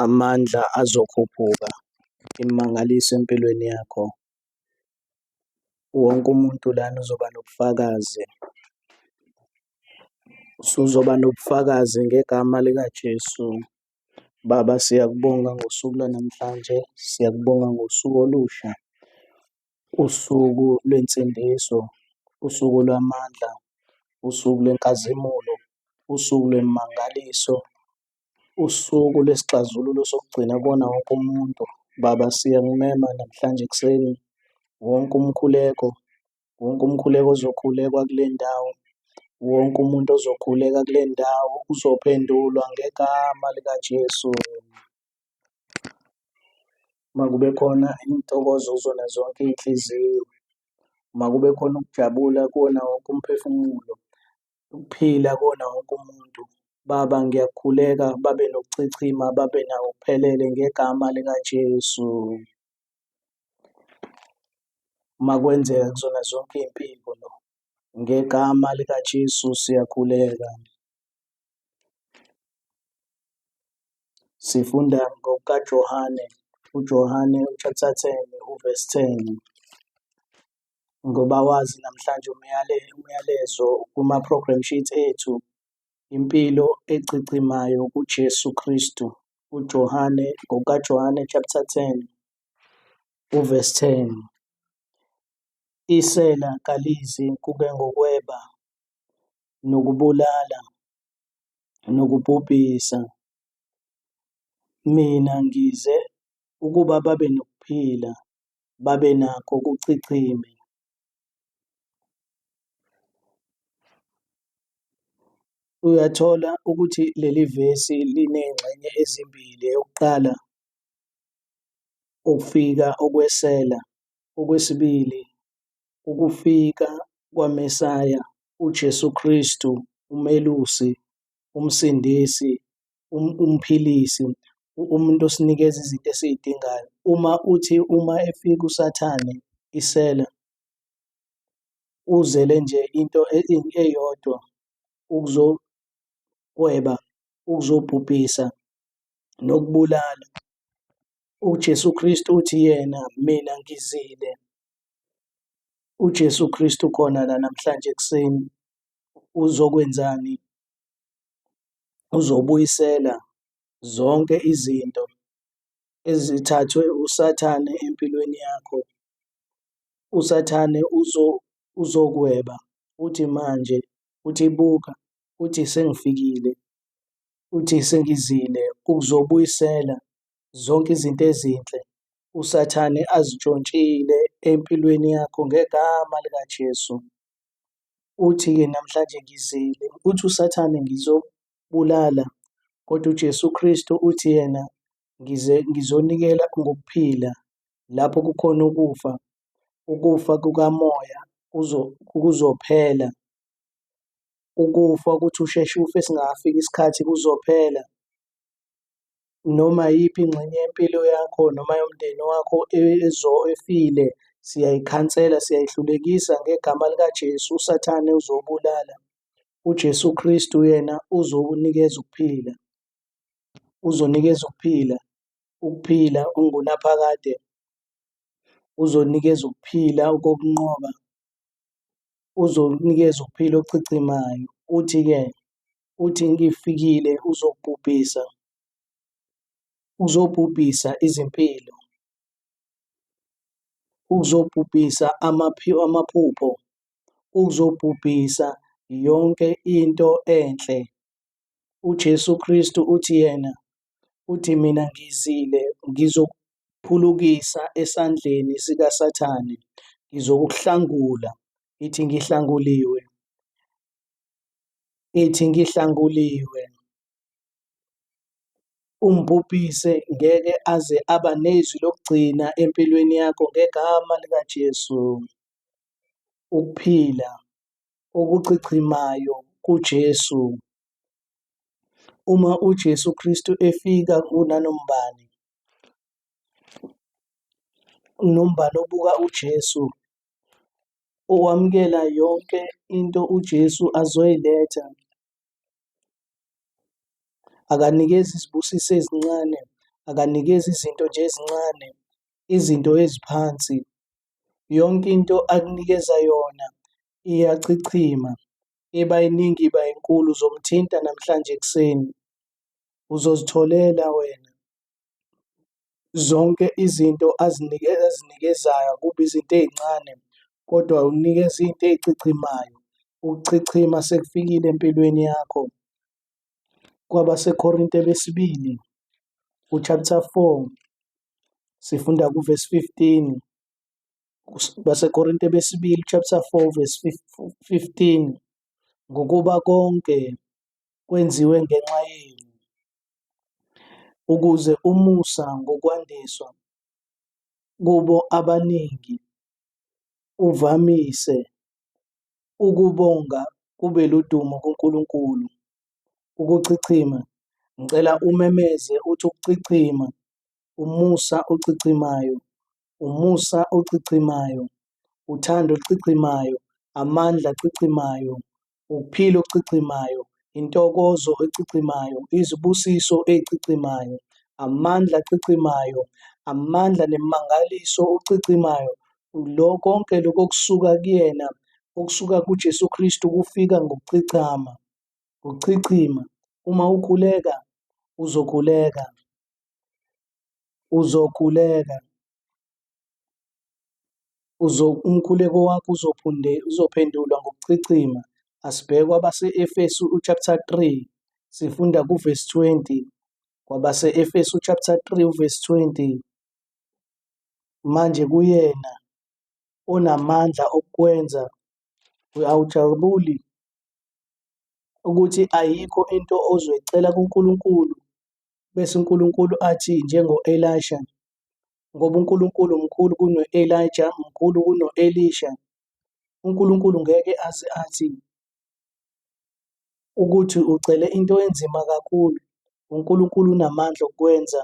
amandla azokhuphuka imangaliso empilweni yakho. Wonke umuntu lana uzoba nobufakazi. Usuzoba nobufakazi ngegama likaJesu. Baba, siyakubonga ngosuku lwanamhlanje, siyakubonga ngosuku olusha, usuku lwensindiso, usuku lwamandla, usuku lwenkazimulo, usuku lwemangaliso, Usuku lwesixazululo sokugcina kuwona wonke umuntu baba siyakumema namhlanje ekuseni wonke umkhuleko, wonke umkhuleko ozokhulekwa kule ndawo, wonke umuntu ozokhuleka kule ndawo uzophendulwa ngegama likaJesu. Makube khona intokozo kuzona zonke iy'nhliziyo, makube khona ukujabula kuwona wonke umphefumulo, ukuphila kuwona wonke umuntu. Baba ngiyakhuleka babe nokuchichima babe nawo kuphelele ngegama likaJesu. Makwenzeka kuzona zonke iy'mpiko lo. Ngegama likaJesu siyakhuleka. Sifunda ngokukaJohane, uJohane chapter ten uvesi ten. ngoba wazi namhlanje umyalezo umyalezo kuma program sheets ethu impilo echichimayo kuJesu Kristu uJohane ngokaJohane chapter 10 uverse 10 isela kalizi kube ngokweba nokubulala nokubhubhisa mina ngize ukuba babe nokuphila babe nakho ukuchichima. Uyathola ukuthi leli vesi liney'ngxenye ezimbili, eyokuqala ukufika okwesela, okwesibili ukufika kwaMesaya uJesu Kristu uMelusi, uMsindisi umphilisi, umuntu osinikeza izinto esiy'dingayo. Uma uthi uma efika uSathane isela, uzele nje into eyodwa ukuzokweba, ukuzobhubhisa nokubulala. UJesu Kristu uthi yena, mina ngizile. UJesu Kristu ukhona la namhlanje ekuseni, uzokwenzani? uzobuyisela zonke izinto ezithathwe uSathane empilweni yakho. USathane uzokweba uthi manje uthi buka uthi sengifikile uthi sengizile ukuzobuyisela zonke izinto ezinhle uSathane azitshontshile empilweni yakho ngegama likaJesu. Uthi-ke, Namhlanje ngizile. Uthi uSathane, Ngizobulala. Kodwa uJesu Kristu uthi yena, Ngize ngizonikela ngokuphila lapho kukhona ukufa. Ukufa kukamoya kuzophela. Ukufa ukuthi usheshe ufe singakafiki isikhathi kuzophela. noma iyiphi ingxenye yempilo yakho noma yomndeni wakho efile, siyayikhansela, siyayihlulekisa ngegama likaJesu. USathane uzobulala. UJesu Kristu yena uzokunikeza ukuphila. Uzonikeza ukuphila, ukuphila okungunaphakade. Uzonikeza ukuphila okokunqoba. Uzokunikeza ukuphila okuchichimayo. Uthi-ke uthi ngifikile uzobhubhisa uzobhubhisa izimpilo uzobhubhisa amaphupho uzobhubhisa yonke into enhle uJesu Kristu uthi yena uthi mina ngizile ngizokuphulukisa esandleni sikaSathane ngizokuhlangula ithi ngihlanguliwe ithi ngihlanguliwe. Umbhubhise ngeke aze aba nezwi lokugcina empilweni yakho ngegama likaJesu. Ukuphila okuchichimayo kuJesu. Uma uJesu Kristu efika kunanombani nombani obuka uJesu ukwamukela yonke into uJesu azoyiletha. Akanikezi izibusiso ezincane, akanikezi izinto nje ezincane, izinto eziphansi. Yonke into akunikeza yona iyachichima, iba iningi iba inkulu, uzomthinta namhlanje ekuseni. Uzozitholela wena, Zonke izinto azinikezayo akubi izinto ey'ncane kodwa unikeza into ey'chichimayo. Ukuchichima sekufikile empilweni yakho. KwabaseKorinte besibili u-chapter four sifunda ku-verse fifteen. BaseKorinte besibili chapter four verse fifteen, ngokuba konke kwenziwe ngenxa yenu. ukuze umusa ngokwandiswa kubo abaningi uvamise ukubonga kube ludumo kuNkulunkulu. Ukuchichima, ngicela umemeze uthi ukuchichima, umusa ochichimayo, umusa ochichimayo, uthando oluchichimayo, amandla achichimayo, ukuphila okuchichimayo, intokozo echichimayo, izibusiso ezichichimayo, amandla achichimayo, amandla nemimangaliso okuchichimayo, lo konke lokho okusuka kuyena, okusuka kuJesu Kristu kufika ngokuchichama, ngokuchichima. Uma ukhuleka, uzokhuleka, uzokhuleka. Umkhuleko wakho uzophendulwa ngokuchichima. Asibheke kwabase-Efesu chapter 3, sifunda kuvesi 20. Kwabase-Efesu chapter 3 uvesi 20. Manje kuyena onamandla okukwenza awujabuli ukuthi ayikho into ozoyicela kuNkulunkulu bese uNkulunkulu athi njengo-Elisha ngoba uNkulunkulu mkhulu kuno-Elija, mkhulu kuno-Elisha. UNkulunkulu ngeke aze athi ukuthi ucele into enzima kakhulu. UNkulunkulu unamandla okukwenza.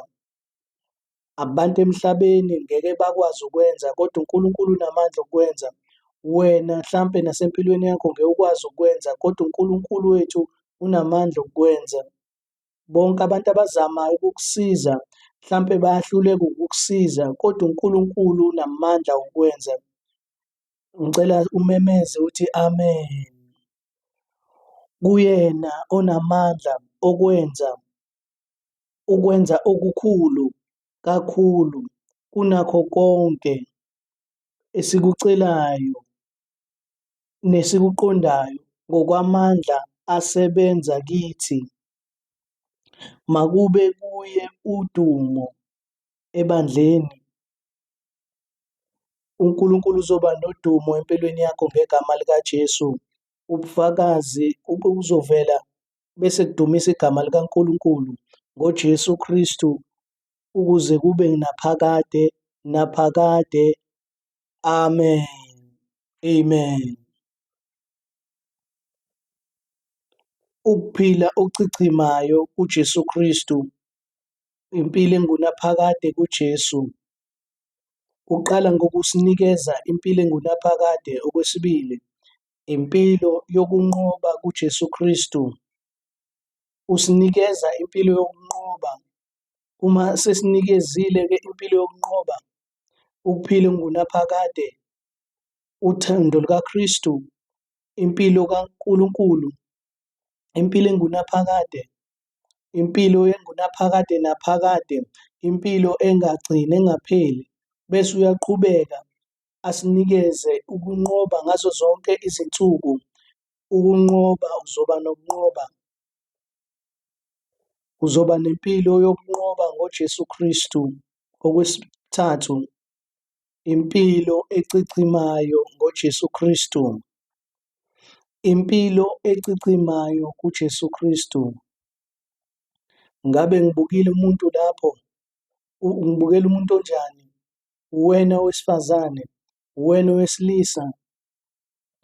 Abantu emhlabeni ngeke bakwazi ukwenza kodwa uNkulunkulu unamandla okukwenza. Wena hlampe nasempilweni yakho ngeke ukwazi ukukwenza kodwa uNkulunkulu wethu unamandla okukwenza. Bonke abantu abazamayo ukukusiza mhlampe bayahluleka ukukusiza kodwa uNkulunkulu unamandla okwenza. Ngicela umemeze uthi amen. Kuyena onamandla okwenza ukwenza okukhulu kakhulu kunakho konke esikucelayo nesikuqondayo ngokwamandla asebenza kithi, makube kuye udumo ebandleni. UNkulunkulu uzoba nodumo empilweni yakho ngegama likaJesu. Ubufakazi kuzovela bese kudumisa igama likaNkulunkulu ngoJesu Kristu ukuze kube naphakade naphakade Amen. Amen. Ukuphila okuchichimayo kuJesu Kristu, impilo engunaphakade kuJesu, kuqala ngokusinikeza impilo engunaphakade, okwesibili, impilo yokunqoba kuJesu Kristu. Usinikeza impilo yokunqoba. Uma sesinikezile-ke impilo yokunqoba, ukuphila engunaphakade, uthando lukaKristu, impilo kaNkulunkulu, impilo engunaphakade, impilo engunaphakade naphakade, impilo engagcini engapheli, bese uyaqhubeka asinikeze ukunqoba ngazo zonke izinsuku. Ukunqoba uzoba nokunqoba. Uzoba nempilo yokunqoba ngoJesu Kristu. Okwesithathu, impilo ecikimayo ngoJesu Kristu. Impilo ecikimayo kuJesu Kristu. Ngabe ngibukile umuntu lapho? Ngibukela umuntu onjani? Uwena owesifazane? Uwena owesilisa?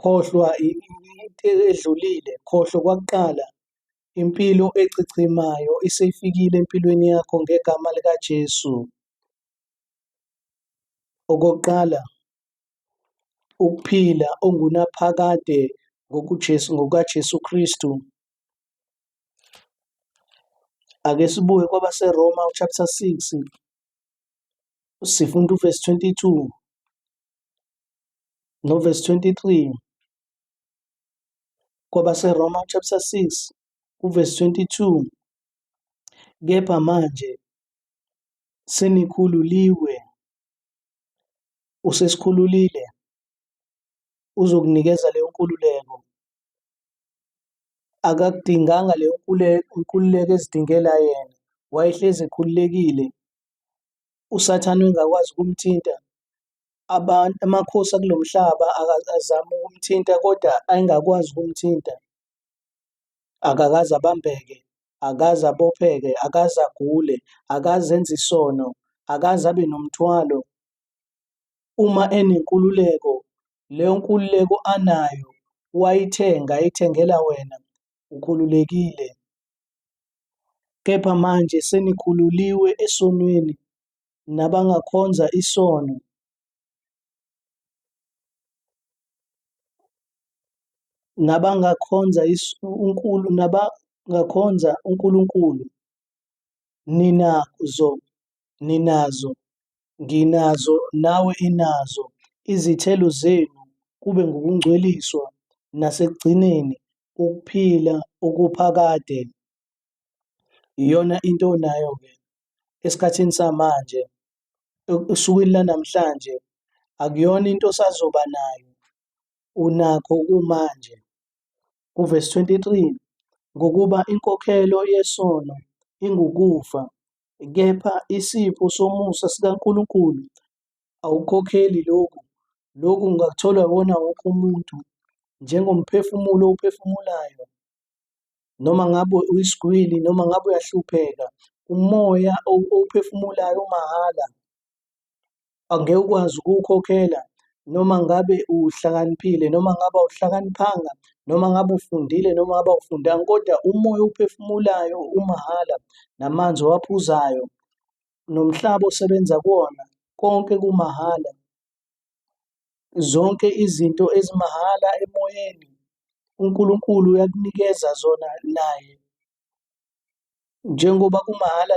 Khohlwa into edlulile, khohlwa kwakuqala, Impilo echichimayo isifikile empilweni yakho ngegama likaJesu. Okokuqala, ukuphila ongunaphakade ngokuJesu ngokaJesu Kristu. Ake sibuye kwabaseRoma chapter 6 sifunda uverse 22 noverse 23. KwabaseRoma chapter 6 verse 22 Kepha manje senikhululiwe usesikhululile uzokunikeza leyo nkululeko akakudinganga leyo nkululeko ezidingela yena wayehlezi ekhululekile usathane engakwazi ukumthinta abantu amakhosi akulo mhlaba azama ukumthinta kodwa ayengakwazi ukumthinta. Akakaze abambeke, akaze abopheke, akaze agule, akaze enze isono, akaze abe nomthwalo. Uma enenkululeko, leyo nkululeko anayo wayithenga, ayithengela wena, ukhululekile. Kepha manje senikhululiwe esonweni, nabangakhonza isono. Nabangakhonza uNkulu nabangakhonza uNkulunkulu ninazo ninazo nginazo nawe inazo izithelo zenu kube ngukungcweliswa nasekugcineni ukuphila okuphakade Iyona into onayo-ke esikhathini samanje esukwini lanamhlanje akuyona into osazoba nayo unakho kumanje kuvesi 23 ngokuba inkokhelo yesono ingukufa kepha isipho somusa sikaNkulunkulu awukhokheli lokhu lokhu ngakuthola wona wonke umuntu njengomphefumulo owuphefumulayo noma ngabe uyisigwili noma ngabe uyahlupheka umoya owuphefumulayo umahhala angeke ukwazi ukuwukhokhela noma ngabe uhlakaniphile noma ngabe awuhlakaniphanga noma ngabe ufundile noma ngabe awufundanga kodwa umoya owuphefumulayo umahhala namanzi owaphuzayo nomhlaba osebenza kuwona konke kumahhala Zonke izinto ezimahhala emoyeni, uNkulunkulu uyakunikeza zona naye. Njengoba kumahhala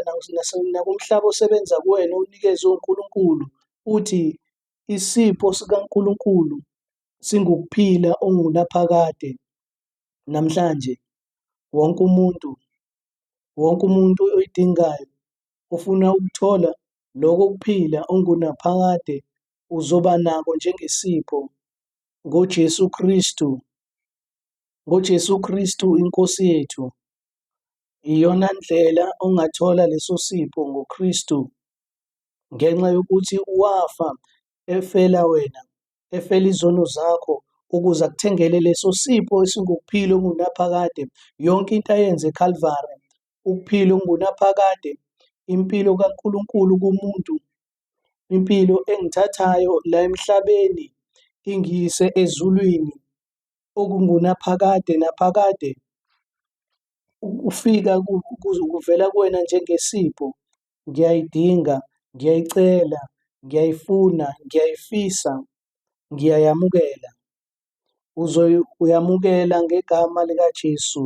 nakumhlaba osebenza kuwena owunikezwe uNkulunkulu, uthi isipho sikaNkulunkulu singukuphila ongunaphakade namhlanje. Wonke umuntu, wonke umuntu oyidingayo ufuna ukuthola Lokho kuphila ongunaphakade uzoba nako njengesipho ngoJesu Kristu. NgoJesu Kristu iNkosi yethu. Iyona ndlela ongathola leso sipho ngoKristu ngenxa yokuthi wafa efela wena, efela izono zakho ukuze akuthengele leso sipho esingukuphila okungunaphakade. Yonke into ayenze eKalvari Ukuphila okungunaphakade, impilo kaNkulunkulu kumuntu, impilo engithathayo la emhlabeni ingiyise ezulwini okungunaphakade naphakade, ukufika kuvela kuwena njengesipho. Ngiyayidinga, ngiyayicela, ngiyayifuna, ngiyayifisa, ngiyayamukela. Uzoyamukela ngegama likaJesu.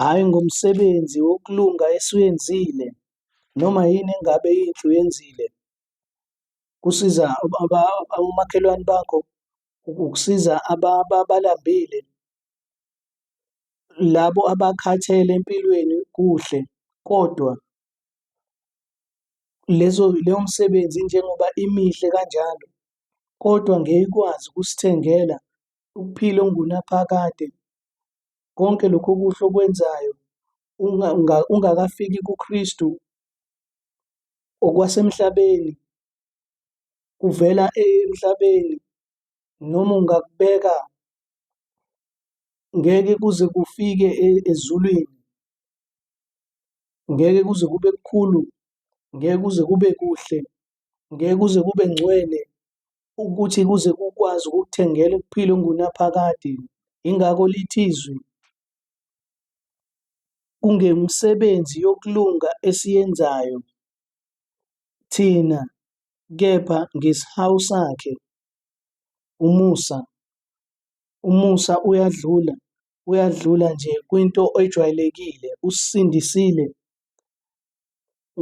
hhayi ngomsebenzi wokulunga esiwenzile noma yini engabe inhle uyenzile kusiza omakhelwane bakho ukusiza abalambile labo abakhathele empilweni kuhle kodwa lezo leyo msebenzi njengoba imihle kanjalo kodwa ngeke ikwazi ukusithengela ukuphila ongunaphakade, konke lokhu okuhle okwenzayo ungakafiki kuKristu okwasemhlabeni kuvela emhlabeni noma ungakubeka ngeke kuze kufike e, ezulwini ngeke kuze kube kukhulu ngeke kuze kube kuhle ngeke kuze kube ngcwele ukuthi kuze kukwazi ukukuthengela ukuphila ungunaphakade. Yingakho lithi izwi kungemisebenzi yokulunga esiyenzayo thina kepha ngesihawu sakhe. Umusa. Umusa uyadlula, uyadlula nje kwinto ejwayelekile. Usisindisile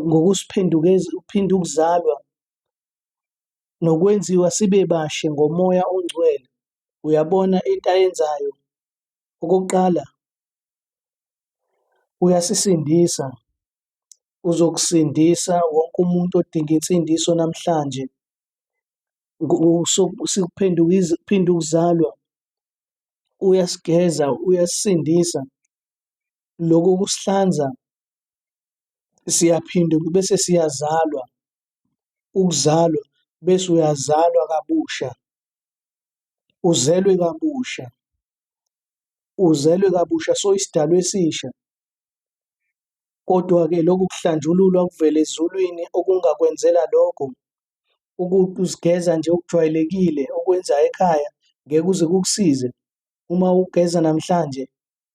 ngokusiphendukeza, uphinde ukuzalwa nokwenziwa sibe bashe ngomoya ongcwele. Uyabona into ayenzayo, okokuqala uyasisindisa, uzokusindisa wonke umuntu odinga insindiso namhlanje. Sikuphenduka ukuzalwa, uyasigeza, uyasisindisa. Loko kusihlanza, siyaphinde bese siyazalwa. ukuzalwa bese uyazalwa kabusha uzelwe kabusha uzelwe kabusha so isidalwa esisha kodwa-ke lokhu kuhlanjululwa okuvela ezulwini okungakwenzela lokho ukuzigeza nje okujwayelekile okwenzayo ekhaya ngeke uze kukusize uma ugeza namhlanje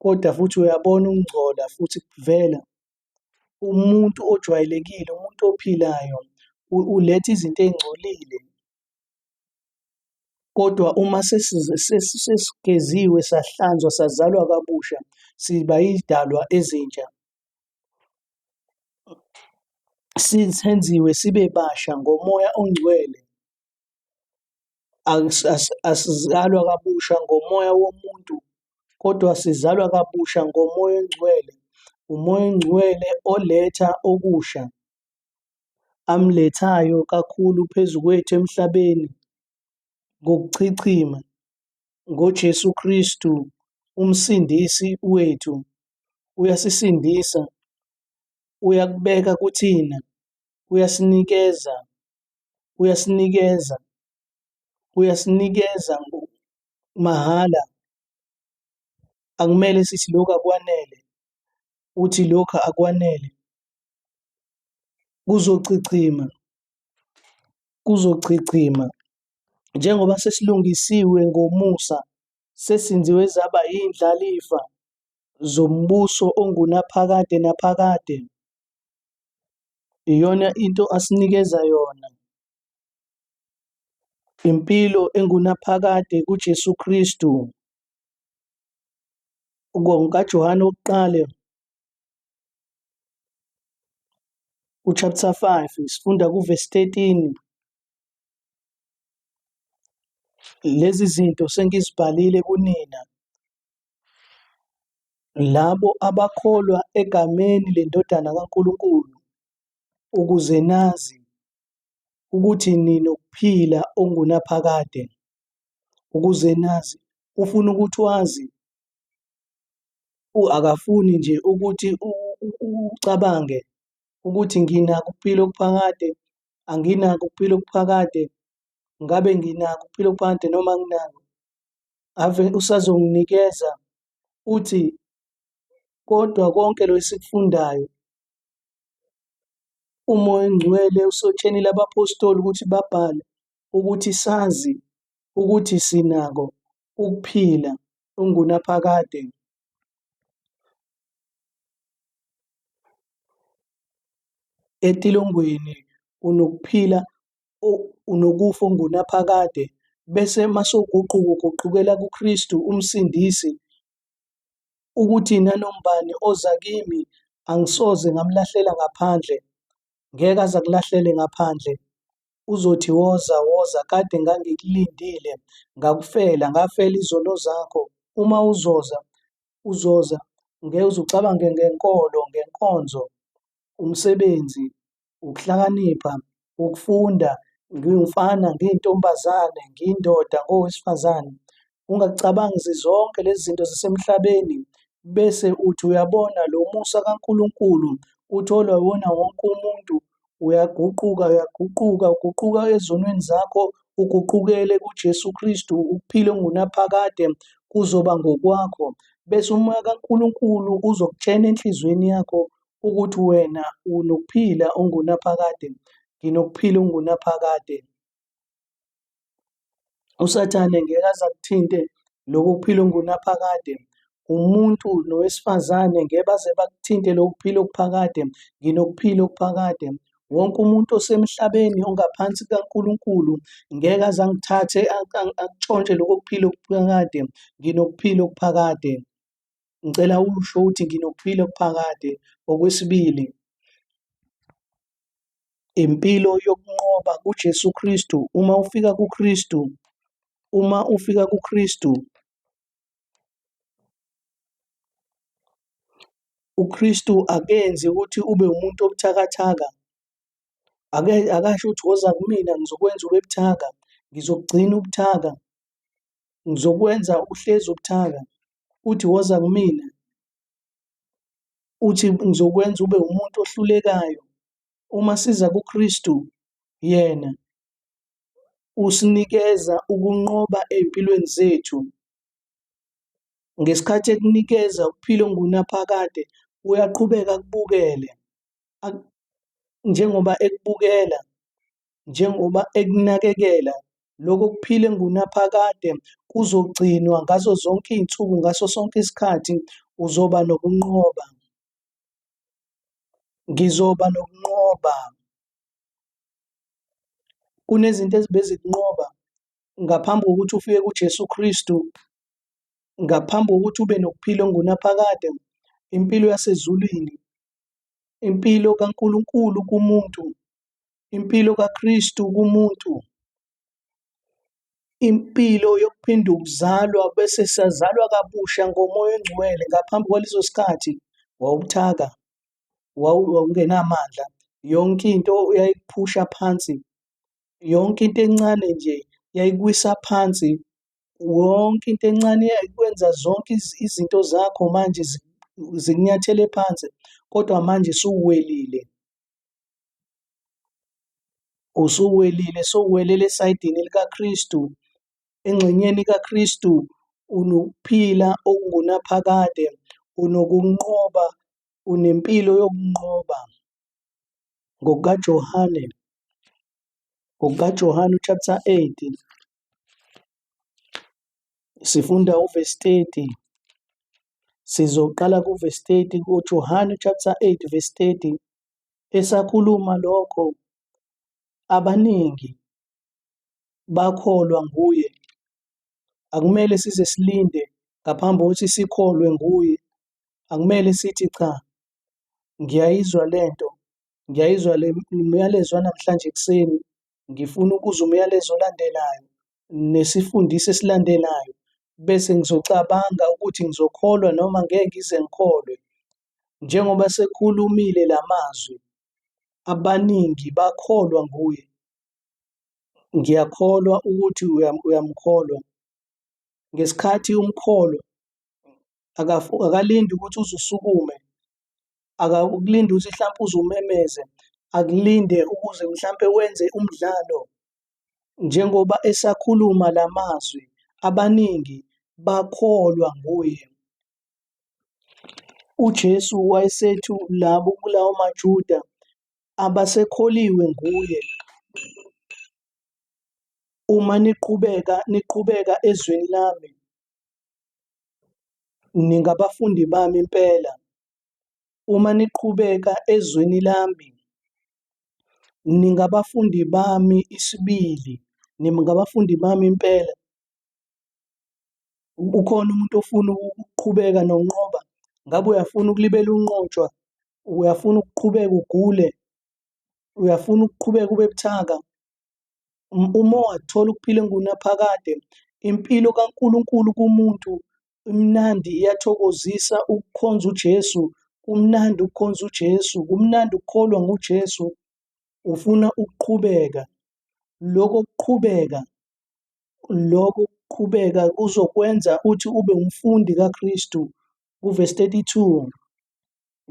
kodwa futhi uyabona ukungcola futhi kuvela umuntu ojwayelekile, umuntu ophilayo uletha izinto ey'ngcolile kodwa uma sesigeziwe sahlanzwa sazalwa kabusha siba iy'dalwa ezintsha. Senziwe sibe basha ngomoya ongcwele. asizalwa kabusha ngomoya womuntu kodwa sizalwa kabusha ngomoya oyingcwele. Umoya oyingcwele oletha okusha amlethayo kakhulu phezu kwethu emhlabeni ngokuchichima ngoJesu Kristu uMsindisi wethu. Uyasisindisa, uyakubeka kuthina, uyasinikeza uyasinikeza uyasinikeza mahhala akumele sithi lokhu akwanele uthi lokhu akwanele kuzochichima kuzochichima njengoba sesilungisiwe ngomusa sesinziwe zaba indlalifa zombuso ongunaphakade naphakade Iyona into asinikeza yona. Impilo engunaphakade kuJesu Kristu. NgokaJohane wokuqala uchapter 5 sifunda kuvesi 13 lezi zinto sengizibhalile kunina Labo abakholwa egameni leNdodana kaNkulunkulu, ukuze nazi ukuthi ninokuphila okungunaphakade, ukuze nazi, ufuna ukuthi wazi, akafuni nje ukuthi ucabange ukuthi nginako ukuphila okuphakade, anginako ukuphila okuphakade, ngabe nginako ukuphila okuphakade noma anginako. ave usazonginikeza uthi kodwa konke lo esikufundayo umoya ongcwele usotshenile abapostoli ukuthi babhale ukuthi sazi ukuthi sinako ukuphila ungunaphakade etilongweni unokuphila unokufa ongunaphakade, bese masuguquka uguqukela kuKristu uMsindisi, ukuthi nanobani oza kimi angisoze ngamlahlela ngaphandle, ngeke aze akulahlele ngaphandle. Uzothi woza woza kade ngangikulindile ngakufela ngafela izono zakho uma uzoza uzoza ngeke uze ucabange ngenkolo ngenkonzo umsebenzi ukuhlakanipha, ukufunda, ngiwumfana, ngiyintombazane, ngiyindoda, ngowesifazane. Ungacabangi zizonke lezi zinto zisemhlabeni bese uthi uyabona lo musa kaNkulunkulu utholwa wona wonke umuntu uyaguquka uyaguquka uguquka ezonweni zakho uguqukele kuJesu Kristu ukuphila ongunaphakade kuzoba ngokwakho bese umoya kaNkulunkulu uzokutshena enhliziyweni yakho ukuthi wena unokuphila ongunaphakade, nginokuphila ongunaphakade. USathane ngeke aze akuthinte lokhu kuphila ongunaphakade. Umuntu nowesifazane ngeke baze bakuthinte lokhu kuphila okuphakade, nginokuphila okuphakade. Wonke umuntu osemhlabeni ongaphansi kukaNkulunkulu ngeke aze angithathe akutshontshe lokho kuphila okuphakade, nginokuphila okuphakade. Ngicela usho ukuthi nginokuphila okuphakade. Okwesibili, impilo yokunqoba kuJesu Kristu. Uma ufika kuKristu, uma ufika kuKristu, uKristu akenzi ukuthi ube umuntu obuthakathaka. Ake akasho ukuthi woza kumina ngizokwenza ube buthaka, ngizokugcina ubuthaka. Ngizokwenza uhlezi ubuthaka, uthi woza kumina, uthi ngizokwenza ube umuntu ohlulekayo. Uma siza kuKristu, yena usinikeza ukunqoba ey'mpilweni zethu. Ngesikhathi ekunikeza ukuphila ongunaphakade, uyaqhubeka akubukele njengoba ekubukela njengoba ekunakekela. Lokho kuphila engunaphakade kuzogcinwa ngazo zonke izinsuku ngaso sonke isikhathi uzoba nokunqoba. Ngizoba nokunqoba. Kunezinto ezibezikunqoba ngaphambi kokuthi ufike kuJesu Kristu, ngaphambi kokuthi ube nokuphila ongunaphakade, impilo yasezulwini, impilo kaNkulunkulu kumuntu Impilo kaKristu kumuntu, impilo yokuphinda ukuzalwa bese sazalwa kabusha ngomoya ongcwele ngaphambi kwaleso sikhathi wawubuthaka, wawungenamandla, yonke into yayikuphusha phansi, yonke into encane nje yayikuwisa phansi, wonke into encane yayikwenza zonke izinto zakho manje zikunyathele phansi, kodwa manje suwelile. Usuwelile, sowuwelele esayidini likaKristu. Engxenyeni kaKristu unokuphila okungunaphakade, unokunqoba, unempilo yokunqoba. NgokukaJohane, ngokukaJohane chapter 8 sifunda uvesi 30 Sizoqala kuverse 30 kuJohane chapter 8 verse 30. Esakhuluma lokho abaningi bakholwa nguye. Akumele size silinde ngaphambi kokuthi sikholwe nguye. Akumele sithi cha ngiyayizwa lento, ngiyayizwa le myalezo wanamhlanje ekuseni, ngifuna ukuzwa umyalezo olandelayo. nesifundiso esilandelayo bese ngizocabanga ukuthi ngizokholwa noma ngeke ngize ngikholwe. Njengoba sekhulumile la mazwi, abaningi bakholwa nguye. Ngiyakholwa ukuthi uyamkholwa. Ngesikhathi umkholwa, akalindi ukuthi uze usukume, akakulindi ukuthi hlampe uze umemeze, akulinde ukuze mhlampe wenze umdlalo Njengoba esakhuluma la mazwi, abaningi bakholwa nguye. UJesu wayesethu labo kulawo maJuda abasekholiwe nguye, Uma niqhubeka niqhubeka ezweni lami, ningabafundi bami impela. Uma niqhubeka ezweni lami, Ningabafundi bami isibili, ningabafundi bami impela. Ukhona umuntu ofuna ukuqhubeka nonqoba? Ngabe uyafuna ukulibela unqotshwa? Uyafuna ukuqhubeka ugule? Uyafuna ukuqhubeka ube buthaka? Uma wathola ukuphila engunaphakade, impilo kaNkulunkulu kumuntu Imnandi iyathokozisa ukukhonza uJesu, kumnandi ukukhonza uJesu, kumnandi ukukholwa nguJesu. Ufuna ukuqhubeka. Lokho kuqhubeka, lokho kuqhubeka kuzokwenza uthi ube umfundi kaKristu. Kuvesi 32,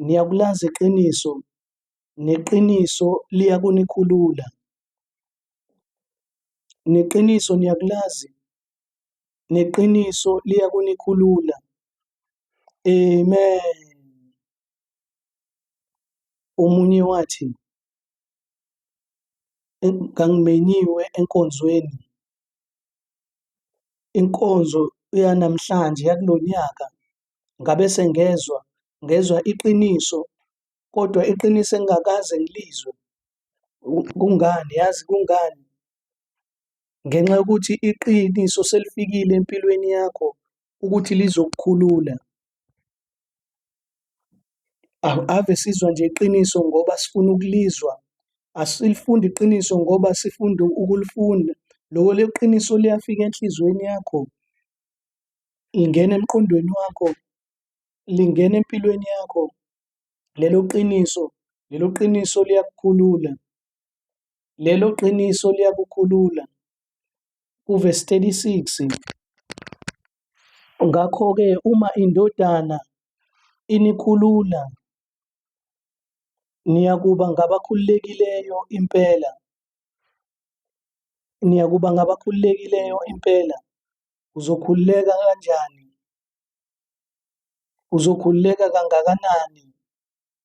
niyakulazi iqiniso, neqiniso liyakunikhulula. Neqiniso niyakulazi, neqiniso liyakunikhulula. Amen. Omunye wathi, ngangimenyiwe enkonzweni. Inkonzo yanamhlanje yakulo nyaka ngabe sengezwa, ngezwa iqiniso kodwa iqiniso engingakaze ngilizwe. Kungani? Yazi kungani? ngenxa yokuthi iqiniso selifikile empilweni yakho ukuthi lizokukhulula. Ave sizwa nje iqiniso ngoba sifuna ukulizwa, asilifundi iqiniso ngoba sifunda ukulifunda. Loko leqiniso liyafika enhliziyweni yakho, lingena emqondweni wakho, lingena empilweni yakho. Lelo qiniso, lelo qiniso liyakukhulula. Lelo qiniso liyakukhulula. Kuvesi 36. Ngakho-ke uma indodana inikhulula niyakuba ngabakhululekileyo impela. Niyakuba ngabakhululekileyo impela. Uzokhululeka kanjani? Uzokhululeka kangakanani?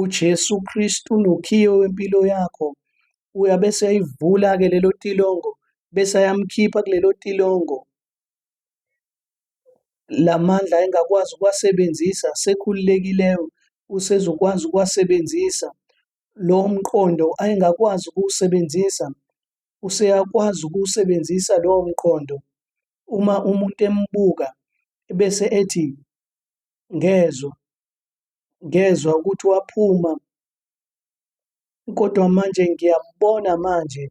uJesu Kristu unokhiye wempilo yakho uyabe seyayivula-ke lelo tilongo bese ayamkhipha kulelo tilongo la mandla engakwazi ukuwasebenzisa sekhululekileyo usezokwazi ukuwasebenzisa lo mqondo ayengakwazi ukuwusebenzisa useyakwazi ukuwusebenzisa lowo mqondo uma umuntu embuka bese ethi ngezwa ngezwa ukuthi waphuma kodwa manje ngiyambona manje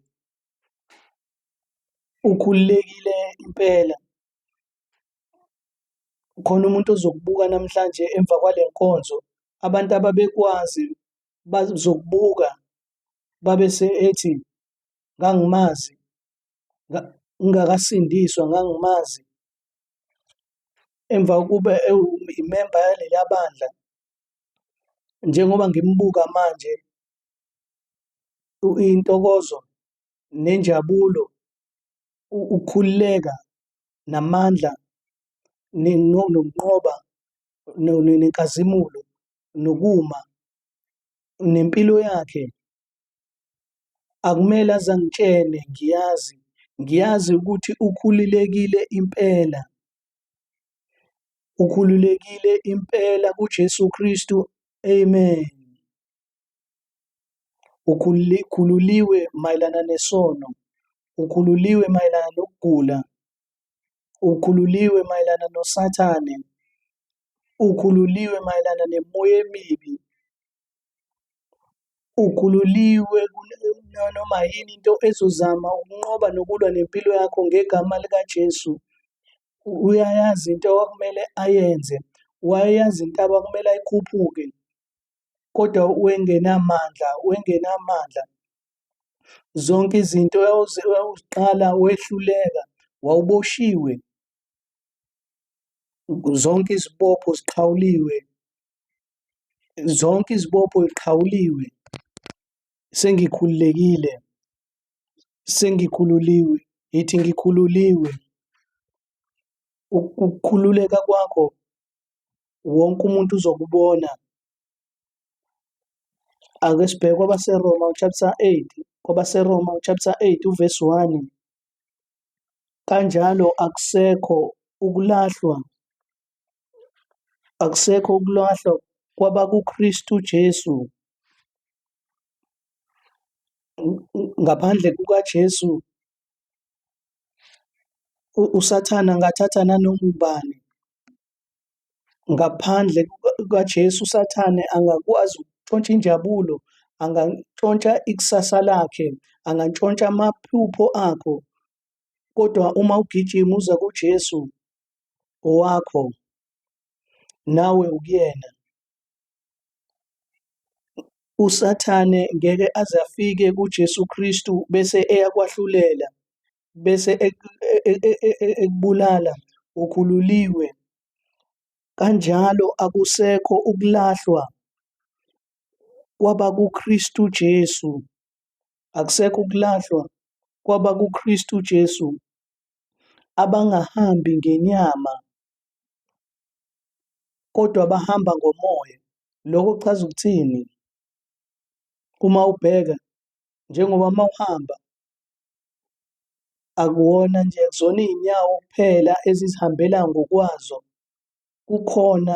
ukhululekile impela. Khona umuntu ozokubuka namhlanje emva kwale nkonzo, abantu ababekwazi bazokubuka babe sethi ngangimazi, ngingakasindiswa ngangimazi. Emva kokuba ewumemba yaleliya bandla, njengoba ngimbuka manje, intokozo nenjabulo, ukukhululeka namandla nokunqoba nenkazimulo nokuma nempilo yakhe Akumele aze angitshele ngiyazi, ngiyazi ukuthi ukhululekile impela. Ukhululekile impela kuJesu Kristu. Amen. Ukhululiwe mayelana nesono, ukhululiwe mayelana nokugula, ukhululiwe mayelana noSathane, ukhululiwe mayelana nemoya emibi, Ukhululiwe kunanoma yini into ezozama ukunqoba nokulwa nempilo yakho ngegama likaJesu. Uyayazi into okumele ayenze, wayayazi intaba okumele ayikhuphuke kodwa wengenamandla, wengenamandla. Zonke izinto wawuziqala wehluleka, wawuboshiwe. Zonke izibopho ziqhawuliwe, zonke izibopho iqhawuliwe sengikhululekile sengikhululiwe yithi ngikhululiwe ukukhululeka kwakho wonke umuntu uzokubona ake sibheke kwabaseroma uchapter 8 kwabaseroma uchapter 8 uvesi 1 kanjalo akusekho ukulahlwa Akusekho ukulahlwa kwabakuKristu Jesu. Ngaphandle kukaJesu uSathane angathatha nanoma ubani. Ngaphandle kukaJesu uSathane angakwazi ukuntshontsha injabulo, angantshontsha ikusasa lakhe, angantshontsha amaphupho akho. Kodwa uma ugijima uza kuJesu, owakho nawe ukuyena usathane ngeke aze afike kuJesu Kristu bese eyakwahlulela bese ekubulala ukhululiwe kanjalo akusekho ukulahlwa kwaba kuKristu Jesu akusekho ukulahlwa kwaba kuKristu Jesu abangahambi ngenyama kodwa abahamba ngomoya. Loko kuchaza ukuthini? Uma ubheka njengoba uma uhamba akuwona nje akuzona iy'nyawo kuphela ezizihambela ngokwazo, kukhona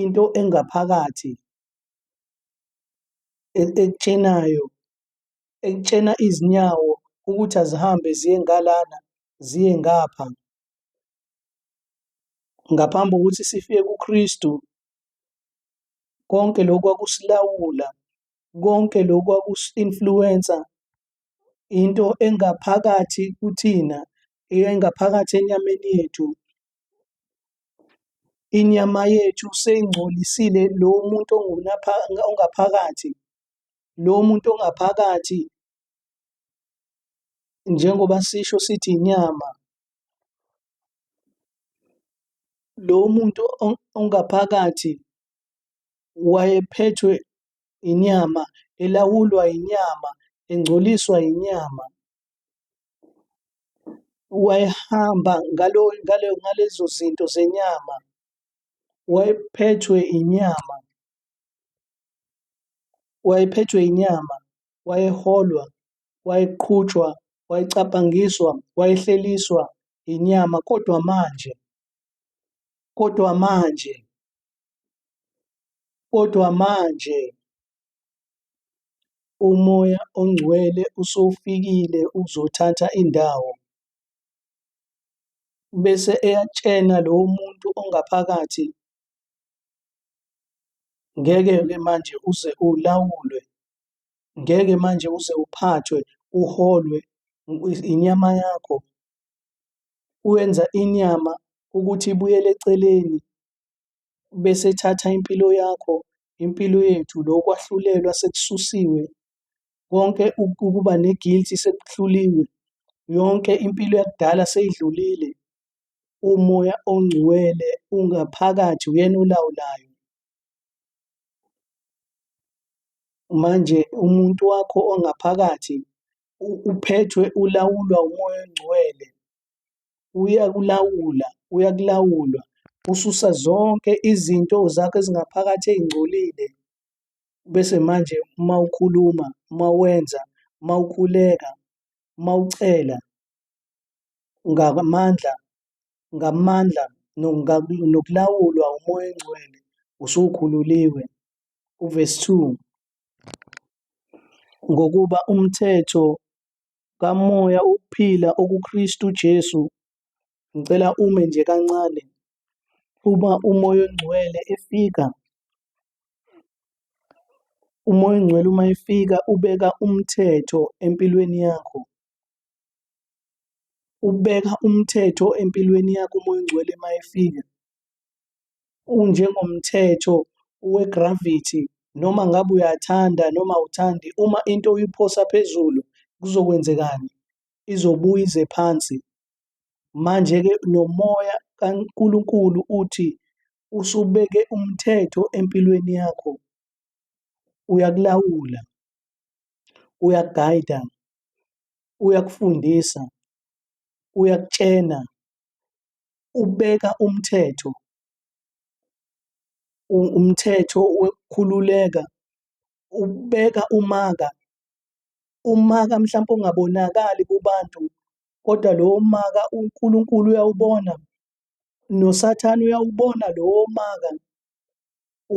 into engaphakathi ekutshenayo ekutshena izinyawo ukuthi azihambe ziye ngalana ziye ngapha ngaphambi kokuthi sifike kuKristu konke lokhu kwakusilawula konke lokhu kwakusi-influensa into engaphakathi kuthina engaphakathi enyameni yethu inyama yethu seyingcolisile lo muntu ongaphakathi lo muntu ongaphakathi njengoba sisho sithi inyama lo muntu ongaphakathi wayephethwe inyama elawulwa inyama engcoliswa inyama wayehamba ngalo ngalo ngalezo zinto zenyama wayephethwe inyama wayephethwe inyama wayeholwa wayeqhutshwa wayecabangiswa wayehleliswa inyama kodwa manje kodwa manje kodwa manje umoya ongcwele usufikile uzothatha indawo bese eyatshena lowo muntu ongaphakathi Ngeke-ke manje uze ulawulwe, ngeke manje uze uphathwe, uholwe inyama yakho. Wenza inyama ukuthi ibuyele eceleni, bese ethatha impilo yakho, impilo yethu, lo kwahlulelwa sekususiwe, konke ukuba ne-guilty sekuhluliwe, yonke impilo yakudala seyidlulile. umoya ongcwele ungaphakathi uyena olawulayo manje umuntu wakho ongaphakathi uphethwe ulawulwa umoya ongcwele uyakulawula uyakulawulwa ususa zonke izinto zakho ezingaphakathi ey'ngcolile bese manje uma ukhuluma uma wenza uma ukhuleka uma ucela ngamandla ngamandla nokulawulwa uMoya oNgcwele usukhululiwe. Uvesi 2, Ngokuba umthetho kaMoya wokuphila okuKristu Jesu, ngicela ume nje kancane, uma uMoya oNgcwele efika, uMoya oNgcwele uma efika ubeka umthetho empilweni yakho, Ubeka umthetho empilweni yakho umoya ongcwele uma efika. Unjengomthetho we-gravity noma ngabe uyathanda noma awuthandi, uma into uyiphosa phezulu kuzokwenzekani? Izobuya ize phansi. Manje-ke nomoya kaNkulunkulu uthi usubeke umthetho empilweni yakho, uyakulawula, uyakugayida, uyakufundisa, uyakutshena, ubeka umthetho, umthetho wokukhululeka, ubeka umaka, umaka mhlawumpe ongabonakali kubantu kodwa lowo maka uNkulunkulu uyawubona, noSathane uyawubona lowo maka,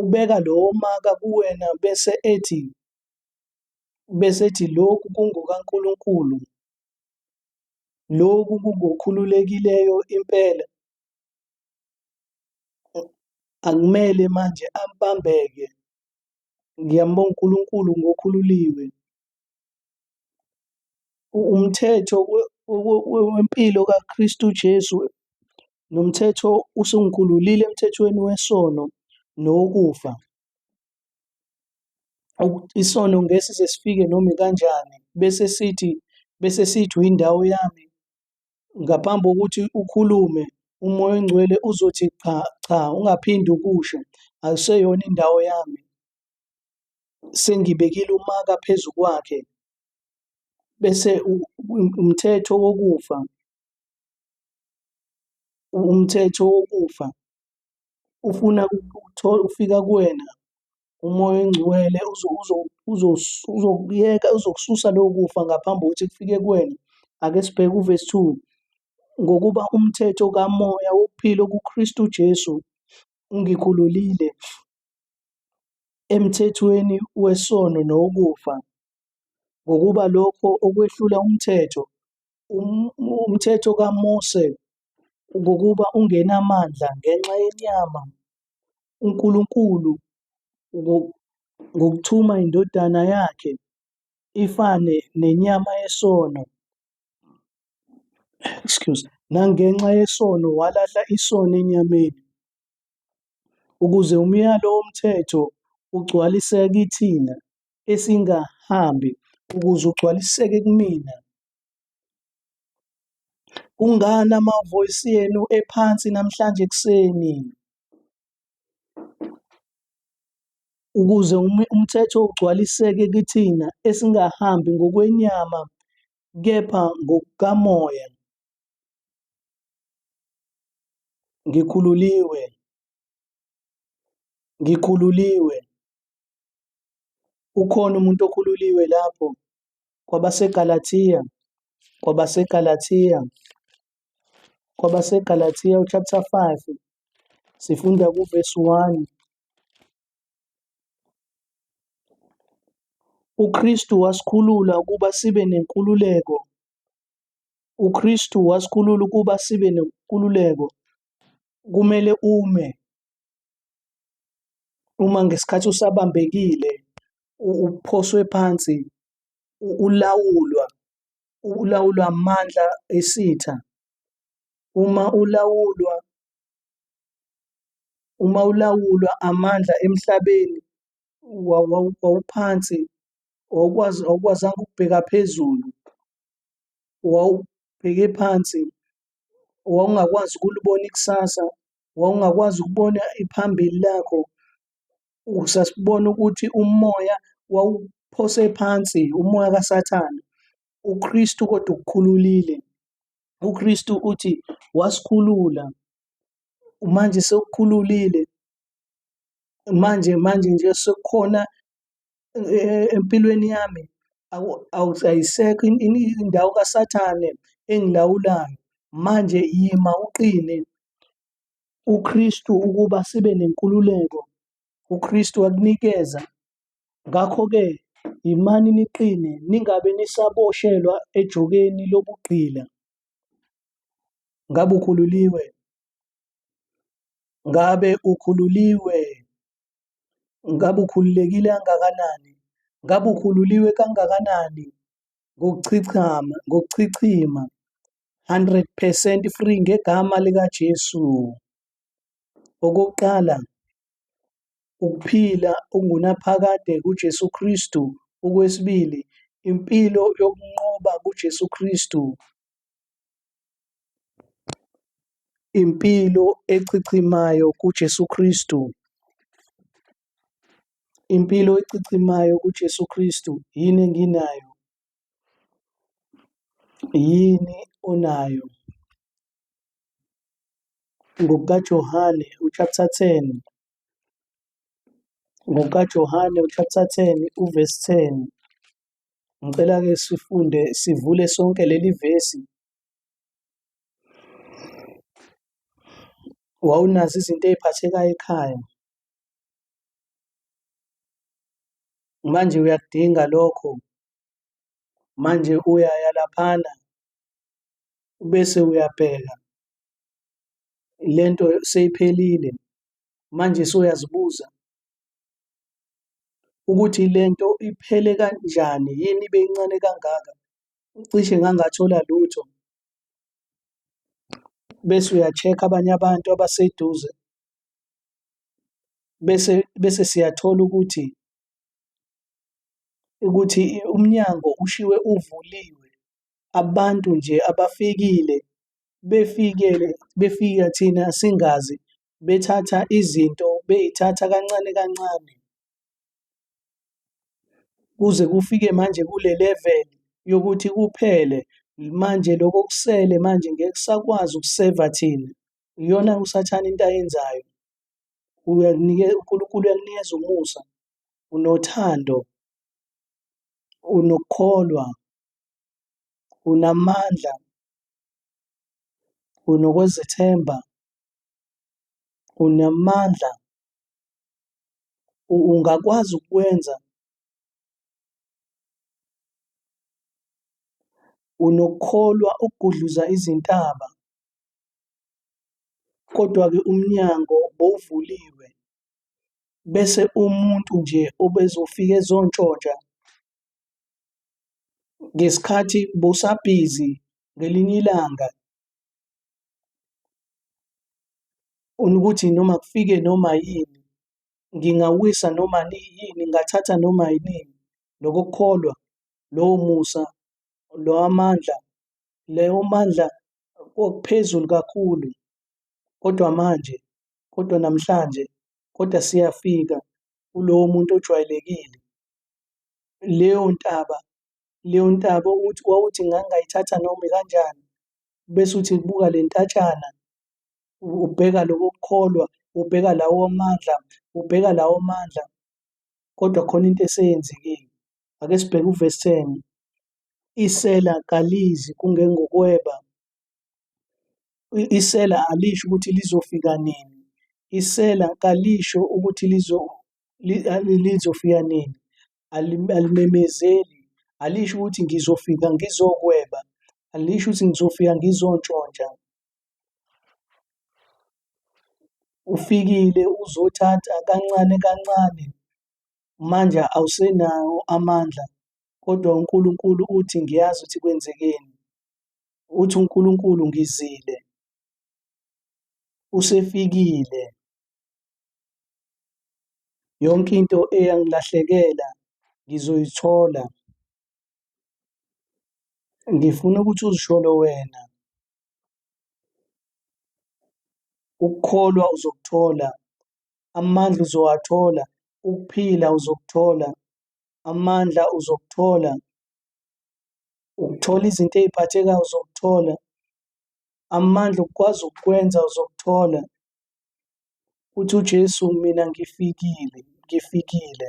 ubeka lowo maka kuwena bese ethi bese ethi lokhu kungokaNkulunkulu, lokhu kungokhululekileyo impela, akumele manje ambambeke. Ngiyambonga uNkulunkulu ngokhululiwe. Umthetho wempilo kaKristu Jesu nomthetho usungikhululile emthethweni wesono nokufa. Isono ngeke size sifike noma ikanjani bese sithi bese sithi uyindawo yami. Ngaphambi kokuthi ukhulume uMoya oNgcwele uzothi cha cha ungaphinde ukusho akuseyona indawo yami. Sengibekile umaka phezu kwakhe bese umthetho wokufa umthetho wokufa ufuna ukuthola ufika kuwena umoya oyingcwele uzokuyeka uzokususa lowo kufa ngaphambi kokuthi kufike kuwena. Ake sibheke uvesi two, ngokuba umthetho kamoya wokuphila okuKristu Jesu ungikhululile emthethweni wesono nowokufa. Ngokuba lokho okwehlula umthetho, umthetho kaMose ngokuba ungenamandla ngenxa yenyama, uNkulunkulu ngokuthuma iNdodana yakhe ifane nenyama yesono, excuse, nangenxa yesono walahla isono enyameni, ukuze umyalo woMthetho ugcwaliseke kithina esingahambi, ukuze ugcwaliseke kimina, Kungani amavoyisi enu ephansi namhlanje ekuseni? Ukuze umthetho ugcwaliseke kithina esingahambi ngokwenyama kepha ngokukaMoya. Ngikhululiwe. Ngikhululiwe. Ukhona umuntu okhululiwe lapho? KwabaseGalathiya, KwabaseGalathiya, KwabaseGalathiya uchapter 5 sifunda kuvesi 1. UKristu wasikhulula ukuba sibe nenkululeko. UKristu wasikhulula ukuba sibe nenkululeko. Kumele ume Uma ngesikhathi usabambekile uphoswe phansi ulawulwa ulawulwa amandla esitha uma ulawulwa uma ulawulwa amandla emhlabeni wawuphansi wawukwazi awukwazanga ukubheka phezulu wawubheke phansi wawungakwazi ukulibona ikusasa wawungakwazi ukubona iphambili lakho, sasibona ukuthi umoya wawuphose phansi, umoya kaSathane. UKristu kodwa ukukhululile. UKristu uthi wasikhulula. Manje sekukhululile. Manje manje nje sekukhona eh, empilweni yami ayisekho indawo kaSathane engilawulayo. Manje yima uqine uKristu ukuba sibe nenkululeko uKristu akunikeza. Ngakho-ke yimani niqine ningabe nisaboshelwa ejokeni lobugqila. Ngabe ukhululiwe? Ngabe ukhululiwe? Ngabe ukhululekile kangakanani? Ngabe ukhululiwe kangakanani? Ngokuchichama, ngokuchichima. 100 percent free ngegama likaJesu. Okokuqala, ukuphila ungunaphakade kuJesu Kristu. Okwesibili, impilo yokunqoba kuJesu Kristu. Impilo echichimayo kuJesu Kristu. Impilo echichimayo kuJesu Kristu. Yini enginayo? Yini onayo? NgokukaJohane uchapter 10 ngokukaJohane uchapter 10 uvesi 10 Ngicela ke sifunde sivule sonke leli vesi. Wawunazo izinto eziphathekayo ekhaya. Manje uyakudinga lokho. Manje uyaya laphana bese uyabheka lento seyiphelile. Manje sewuyazibuza ukuthi le nto iphele kanjani yini ibe incane kangaka cishe ngangathola lutho bese uya-check-a abanye abantu abaseduze bese bese siyathola ukuthi ukuthi umnyango ushiwe uvuliwe abantu nje abafikile befikele befika thina singazi bethatha izinto bey'thatha kancane kancane kuze kufike manje kule level yokuthi kuphele manje lokho okusele manje ngeke kusakwazi ukuseva thina. Iyona usathane into ayenzayo. Uyakunikeza uNkulunkulu uyakunikeza umusa, unothando, unokukholwa, unamandla, unokwezethemba, Unamandla, ungakwazi ukwenza. Unokukholwa ukugudluza izintaba, kodwa-ke umnyango bowuvuliwe, bese umuntu nje obezofika ezontshontsha ngesikhathi bowusabhizi ngelinye ilanga Unokuthi noma kufike noma yini, ngingawisa noma yini, ngingathatha noma yinini, loko kukholwa, lowo musa, lawa mandla, lawo mandla okuphezulu kakhulu. Kodwa manje, kodwa namhlanje, kodwa siyafika kulowo muntu ojwayelekile. Leyo ntaba, leyo ntaba ukuthi wawuthi ngangayithatha noma ikanjani, bese uthi buka le ntatshana ubheka lokho kukholwa ubheka lawo mandla ubheka lawo mandla kodwa khona into eseyenzekile ake sibheke uvesi 10 isela kalizi kungengokweba isela alisho ukuthi lizofika nini isela kalisho ukuthi lizo lizofika nini alimemezeli, alisho ukuthi ngizofika ngizokweba, alisho ukuthi ngizofika ngizontshontsha. Ufikile uzothatha kancane kancane, manje awusenawo amandla, kodwa uNkulunkulu uthi ngiyazi ukuthi kwenzekeni. Uthi uNkulunkulu ngizile, usefikile. Yonke into eyangilahlekela ngizoyithola. Ngifuna ukuthi uzisholo wena. Ukukholwa uzokuthola, amandla uzowathola, ukuphila uzokuthola, amandla uzokuthola, ukuthola izinto ey'phathekayo uzokuthola, amandla okukwazi ukukwenza uzokuthola, Uthi uJesu, Mina ngifikile, ngifikile.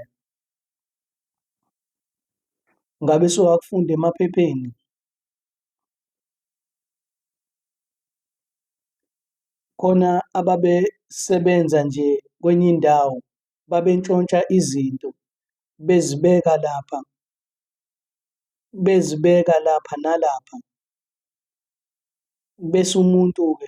Ngabe sewakufunda emaphepheni? Khona ababesebenza nje kwenye indawo, babentshontsha izinto, bezibeka lapha, bezibeka lapha nalapha. Bese umuntu-ke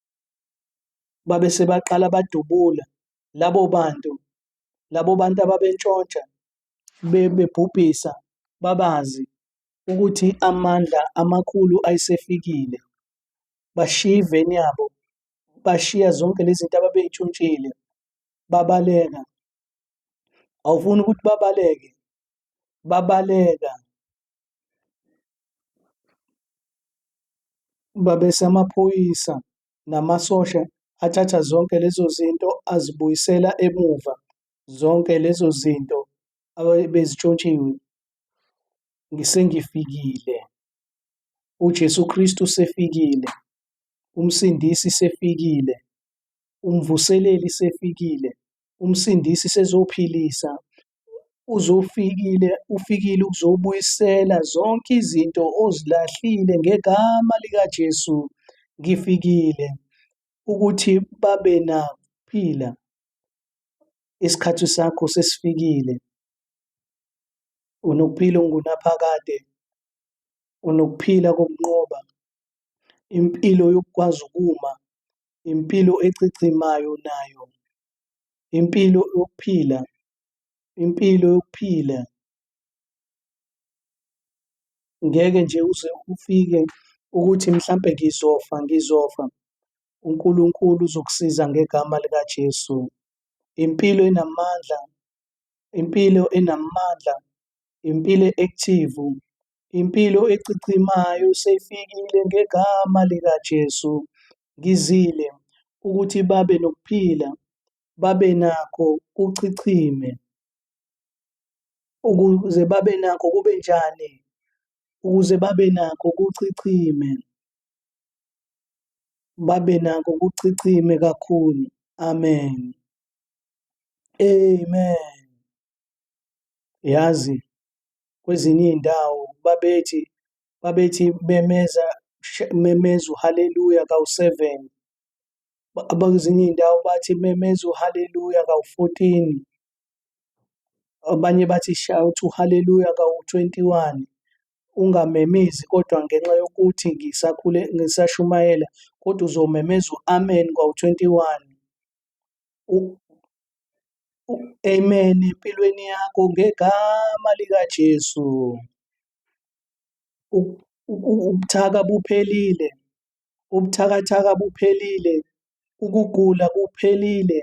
babe sebaqala badubula labo bantu labo bantu ababentshontsha bebhubhisa babazi ukuthi amandla amakhulu ayisefikile bashiya iveni yabo bashiya zonke lezi zinto ababeyitshuntshile babaleka awufuni ukuthi babaleke babaleka Babesamaphoyisa namasosha athatha zonke lezo zinto azibuyisela emuva, zonke lezo zinto abebezitshontshiwe. Sengifikile, uJesu Kristu sefikile, uMsindisi sefikile, uMvuseleli sefikile, uMsindisi sezophilisa, uzofikile, ufikile ukuzobuyisela zonke izinto ozilahlile ngegama likaJesu. Ngifikile ukuthi babe naphila. Isikhathi sakho sesifikile. Unokuphila ongunaphakade, unokuphila kokunqoba, impilo yokukwazi ukuma impilo echichimayo nayo, impilo yokuphila, impilo yokuphila. Ngeke nje uze ufike ukuthi mhlampe ngizofa, ngizofa. UNkulunkulu uzokusiza ngegama likaJesu. Impilo enamandla, impilo enamandla, impilo e-active, Impilo echichimayo seyifikile ngegama likaJesu. Ngizile ukuthi babe nokuphila, babe nakho kuchichime. Ukuze babe nakho kube njani? Ukuze babe nakho kuchichime. Babe nakho kuchichime kakhulu. Amen. Amen. Yazi kwezinye iy'ndawo babethi babethi memeza memeza uhaleluya kawu-seven, abakwezinye iy'ndawo bathi memeza uhaleluya kawu-fourteen, abanye bathi shout uhaleluya kawu-twenty-one. Ungamemezi kodwa ngenxa yokuthi ngisashumayela kodwa uzomemeza u-amen kwawu-twenty-one. Amen empilweni yakho ngegama likaJesu. Ubuthaka buphelile, ubuthakathaka buphelile, ukugula kuphelile,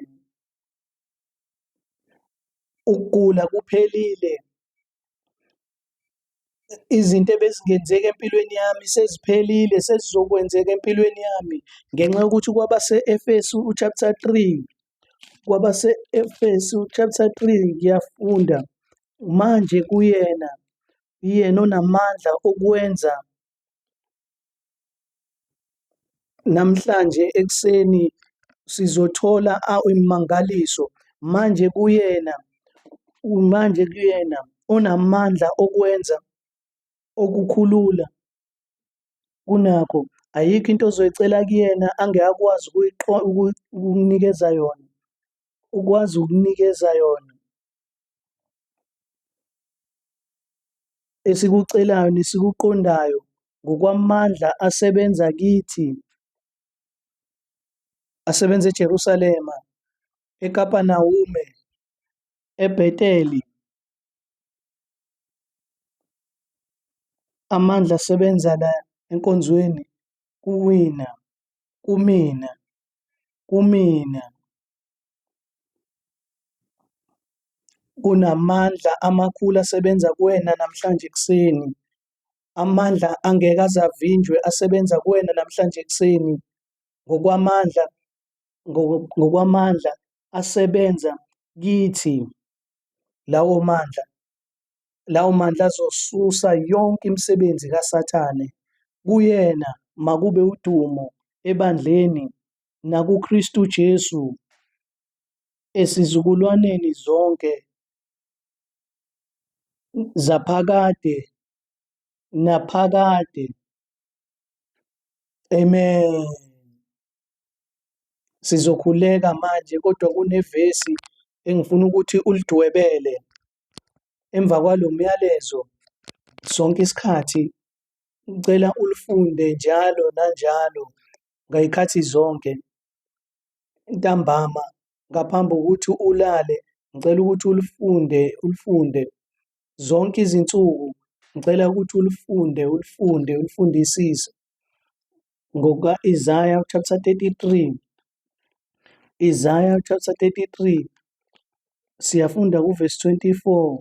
ukugula kuphelile, Izinto ebezingenzeka empilweni yami seziphelile, sezizokwenzeka empilweni yami ngenxa yokuthi kwabase-Efesu chapter 3, kwabase-Efesu chapter 3 ngiyafunda. Manje kuyena, yena onamandla okwenza Namhlanje ekuseni sizothola imangaliso manje kuyena, manje kuyena onamandla okwenza okukhulula kunakho. Ayikho into ozoyicela kuyena angeke akwazi ukukunikeza yona, ukwazi ukunikeza yona. esikucelayo nesikuqondayo ngokwamandla asebenza kithi asebenza eJerusalema eKapanawume eBheteli amandla asebenza la enkonzweni kuwina kumina kumina Kunamandla amakhulu asebenza kuwena namhlanje ekuseni. Amandla angeke aze avinjwe asebenza kuwena namhlanje ekuseni. Ngokwamandla, ngo- ngokwamandla asebenza kithi. Lawo mandla, lawo mandla azosusa yonke imisebenzi kaSathane. Kuyena makube udumo ebandleni nakuKristu Jesu esizukulwaneni zonke zaphakade naphakade. Amen. Sizokhuleka manje kodwa kunevesi engifuna ukuthi ulidwebele emva kwalo myalezo sonke isikhathi ngicela ulifunde njalo nanjalo ngayikhathi zonke ntambama ngaphambi kokuthi ulale ngicela ukuthi ulifunde ulifunde zonke izinsuku ngicela ukuthi ulifunde ulifunde ulifundisise ngokuka Isaiah chapter 33 Isaiah chapter 33 siyafunda kuverse 24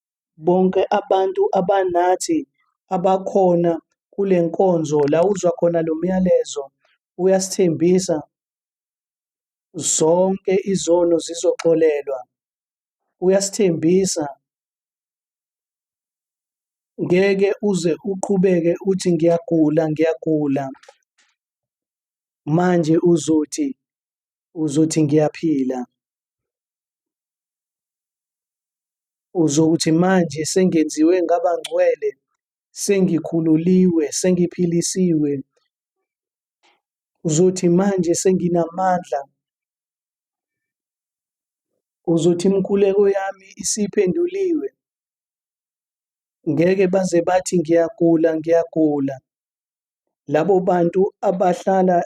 Bonke abantu abanathi abakhona kule nkonzo la uzwa khona lo myalezo uyasithembisa zonke izono zizoxolelwa. Uyasithembisa ngeke uze uqhubeke uthi ngiyagula ngiyagula manje uzothi uzothi ngiyaphila. Uzothi manje sengenziwe ngaba ngcwele, sengikhululiwe, sengiphilisiwe. Uzothi manje senginamandla. Uzothi imikhuleko yami isiphenduliwe. Ngeke baze bathi ngiyagula, ngiyagula. Labo bantu abahlala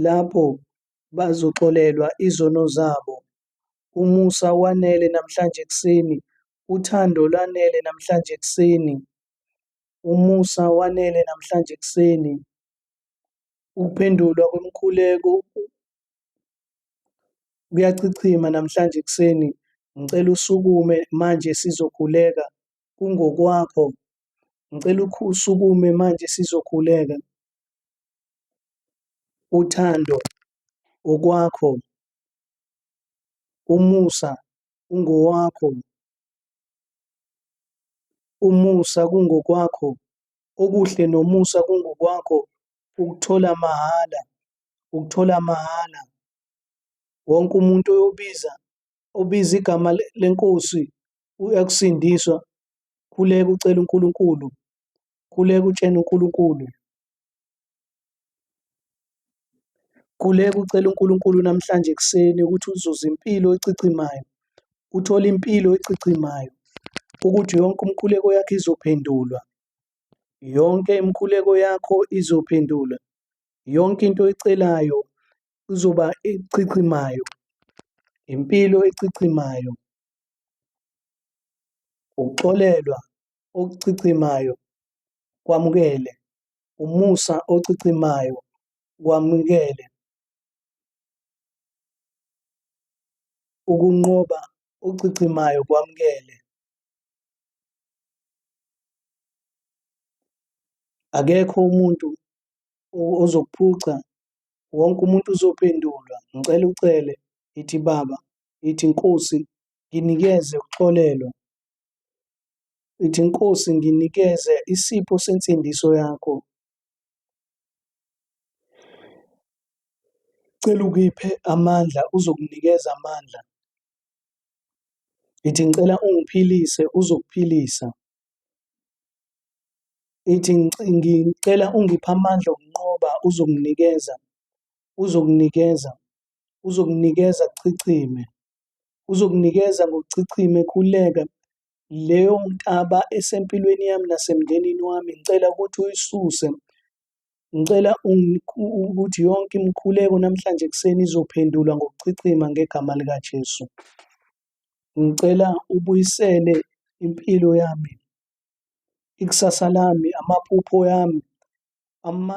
lapho bazoxolelwa izono zabo. Umusa wanele namhlanje ekuseni. Uthando lwanele namhlanje ekuseni. Umusa wanele namhlanje ekuseni. Ukuphendulwa kwemikhuleko kuyachichima namhlanje ekuseni. Ngicela usukume manje sizokhuleka. Kungokwakho. Ngicela usukume manje sizokhuleka. uthando, okwakho, umusa ungowakho, umusa kungokwakho, okuhle nomusa kungokwakho, ukuthola mahhala, ukuthola mahhala. Wonke umuntu oyobiza obiza igama lenkosi uyakusindiswa, khuleka ucela uNkulunkulu, khuleka utshena uNkulunkulu. Khuleka ucele uNkulunkulu namhlanje ekuseni ukuthi uzuze impilo ecichimayo, uthole impilo ecichimayo, ukuthi yonke umkhuleko yakho izophendulwa. Yonke imikhuleko yakho izophendulwa. Yonke into oyicelayo izoba echichimayo, impilo echichimayo, ukuxolelwa okuchichimayo kwamukele umusa ochichimayo kwamukele ukunqoba ochichimayo kwamukele akekho umuntu ozokuphuca wonke umuntu uzophendulwa ngicela ucele ithi baba ithi nkosi nginikeze ukuxolelwa Ithi, Nkosi, nginikeze isipho sensindiso yakho. Cela ukiphe amandla, uzokunikeza amandla. Ithi, Ngicela ungiphilise, uzokuphilisa. Ithi, "Ngic- Ngicela ungiphe amandla okunqoba, uzokunikeza, uzokunikeza, uzokunikeza chichime. uzokunikeza ngokuchichime khuleka leyo nkaba esempilweni yami nasemndenini wami ngicela ukuthi uyisuse ngicela ukuthi yonke imikhuleko namhlanje ekuseni izophendulwa ngokuchichima ngegama likaJesu ngicela ubuyisele impilo yami ikusasa lami amaphupho yami ama